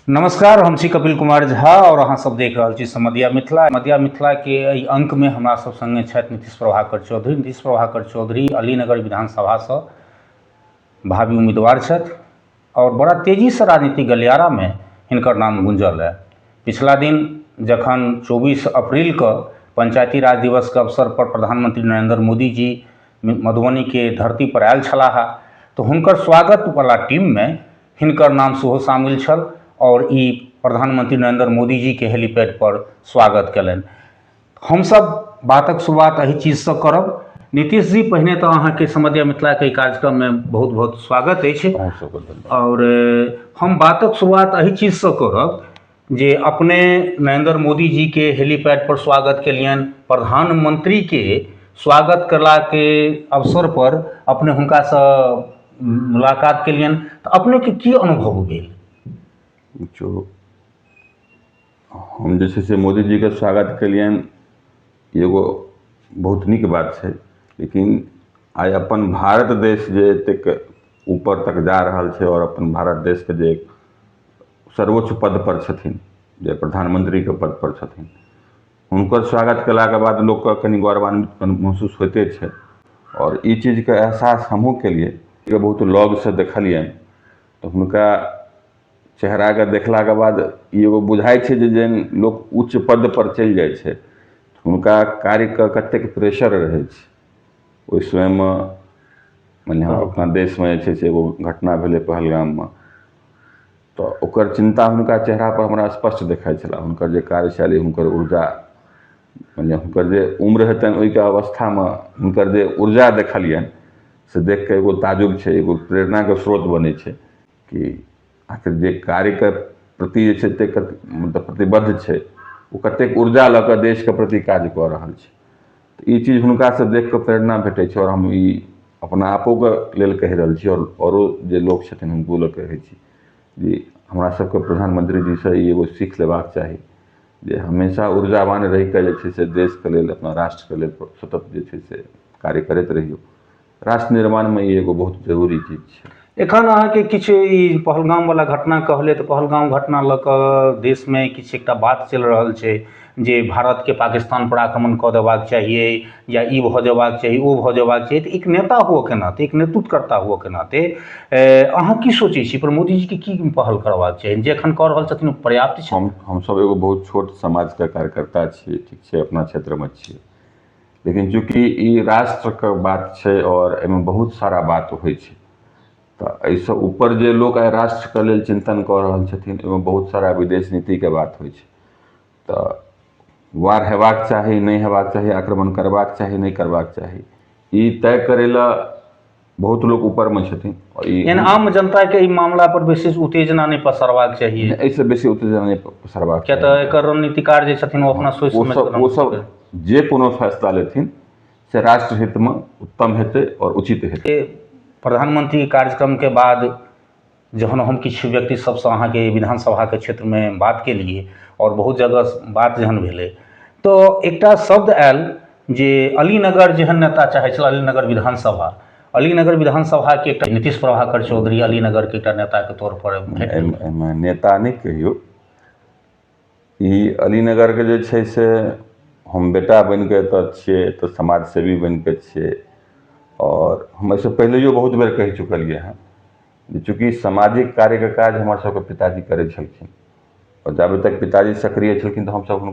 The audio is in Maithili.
नमस्कार हम छी कपिल कुमार झा आओर अहाँ सब देख रहल छी समदिया मिथिला मदिया मिथिला के एहि अंक में हमरा सब संगे छथि नीतीश प्रभाकर चौधरी नीतीश प्रभाकर चौधरी अलीनगर विधानसभा से भावी उम्मीदवार छथि आओर बड़ा तेजी से राजनीतिक गलियारा में हिनकर नाम गुंजल है पिछला दिन जखन 24 अप्रैल के पंचायती राज दिवस के अवसर पर प्रधानमंत्री नरेंद्र मोदी जी मधुबनीके धरती पर आयल छलाह तऽ हुनकर स्वागत बला टीममे हिनकर नाम सेहो शामिल छल आओर ई प्रधानमंत्री नरेन्द्र मोदी जीके हेलीपैड पर स्वागत केलनि हमसब बातक शुरुआत एहि चीज सऽ करब नीतीश जी पहिने तऽ अहाँके समझिया मिथिलाके कार्यक्रममे बहुत बहुत स्वागत अछि आओर हम बातक शुरुआत एहि चीज सऽ करब जे अपने नरेन्द्र मोदी जीके हेलीपैड पर स्वागत केलियनि प्रधानमन्त्रीके स्वागत कयलाके अवसर पर अपने हुनकासँ मुलाकात केलियनि तऽ अपनेके की अनुभव भेल देखियौ हम जे छै से मोदी जीके स्वागत केलियनि एगो बहुत नीक बात छै लेकिन आइ अपन भारत देश जे एतेक ऊपर तक जा रहल छै आओर अपन भारत देशके जे सर्वोच्च पद पर छथिन जे प्रधानमंत्रीके पद पर छथिन हुनकर स्वागत केलाके बाद लोकके कनि गौरवान्वित महसूस होइते छै आओर ई चीजके एहसास हमहूँ केलियै जे बहुत लगसँ देखलियनि तऽ हुनका चेहराके देखलाके बाद ई एगो बुझाइ छै जे जेहन लोक उच्च पद पर चलि जाइ छै हुनका कार्यके कतेक प्रेशर रहै छै ओहि समयमे मानि लिअ अपना देशमे जे छै से एगो घटना भेलै पहलगाममे तऽ ओकर चिन्ता हुनका चेहरापर हमरा स्पष्ट देखाइ छलए हुनकर जे कार्यशैली हुनकर ऊर्जा मने हुनकर जे उम्र हेतनि ओहिके अवस्थामे हुनकर जे ऊर्जा देखलियनि से देख कऽ एगो ताजुब छै एगो प्रेरणाके स्रोत बनै छै कि आखिर जे कार्यके प्रति जे छै एतेक मतलब प्रतिबद्ध छै ओ कतेक ऊर्जा लऽ कऽ देशके प्रति काज कऽ रहल छै तऽ ई चीज हुनका से देख कऽ प्रेरणा भेटै छै आओर हम ई अपना आपोके लेल कहि रहल छी आओर आओरो जे लोक छथिन हुनको लए कहै छी जे हमरा सबके प्रधानमंत्री जी से ई एगो सीख लेबाक चाही जे हमेशा ऊर्जावान रहि कऽ जे छै से देशके लेल अपना राष्ट्रके लेल सतत जे छै से कार्य करैत रहियौ राष्ट्र निर्माणमे ई एगो बहुत जरूरी चीज छै एखन अहाँके किछु ई पहलगाम वाला घटना कहलियै तऽ पहलगाम घटना लऽ कऽ देशमे किछु एकटा बात चलि रहल छै जे भारतके पाकिस्तान पर आक्रमण कऽ देबाक चाहियै या ई भऽ जेबाक चाही ओ भऽ जेबाक चाही तऽ एक नेता होअके नाते एक नेतृत्वकर्ता होअके नाते अहाँ की सोचै छी पर मोदीजीके की पहल करबाक चाही जे एखन कऽ रहल छथिन ओ पर्याप्त छै हम हमसभ एगो बहुत छोट समाजके कार्यकर्ता छियै ठीक छै अपना क्षेत्रमे छियै लेकिन चूँकि ई राष्ट्रके बात छै आओर एहिमे बहुत सारा बात होइ छै तऽ एहिसँ ऊपर जे लोक आइ राष्ट्रके लेल चिन्तन कऽ रहल छथिन ओहिमे बहुत सारा विदेश नीतिके बात होइ छै तऽ वार हेबाक चाही नहि हेबाक चाही आक्रमण करबाक चाही नहि करबाक चाही ई तय करय लेल बहुत लोक ऊपरमे छथिन एहन आम जनताके ई मामला पर विशेष उत्तेजना नहि पसरबाक चाही एहिसँ बेसी उत्तेजना नहि पसरबाक किया तऽ एकर रणनीतिकार जे छथिन ओ अपना सोचि ओ सब जे कोनो फैसला लेथिन से राष्ट्र हितमे उत्तम हेतै आओर उचित हेतै प्रधानमंत्री कार्यक्रमके बाद जहन हम किछु व्यक्ति सबसँ अहाँके विधानसभाके क्षेत्रमे बात केलियै आओर बहुत जगह बात जहन भेलै तऽ एकटा शब्द आयल जे अली नगर जेहन नेता चाहै छलए अली नगर विधानसभा अली नगर विधानसभाके एकटा नीतीश प्रभाकर चौधरी अली नगरके एकटा नेताके तौर पर एहिमे नेता नहि कहियौ ई अलीनगरके जे छै से हम बेटा बनि कऽ एतय छियै एतय समाजसेवी बनि कऽ छियै आओर हम एहिसँ पहिलहिओ बहुत बेर कहि चुकलियै हन जे चूँकि सामाजिक कार्यके काज हमर सभके पिताजी करै छलखिन आओर जाबे तक पिताजी सक्रिय छलखिन तऽ हमसभ हुनका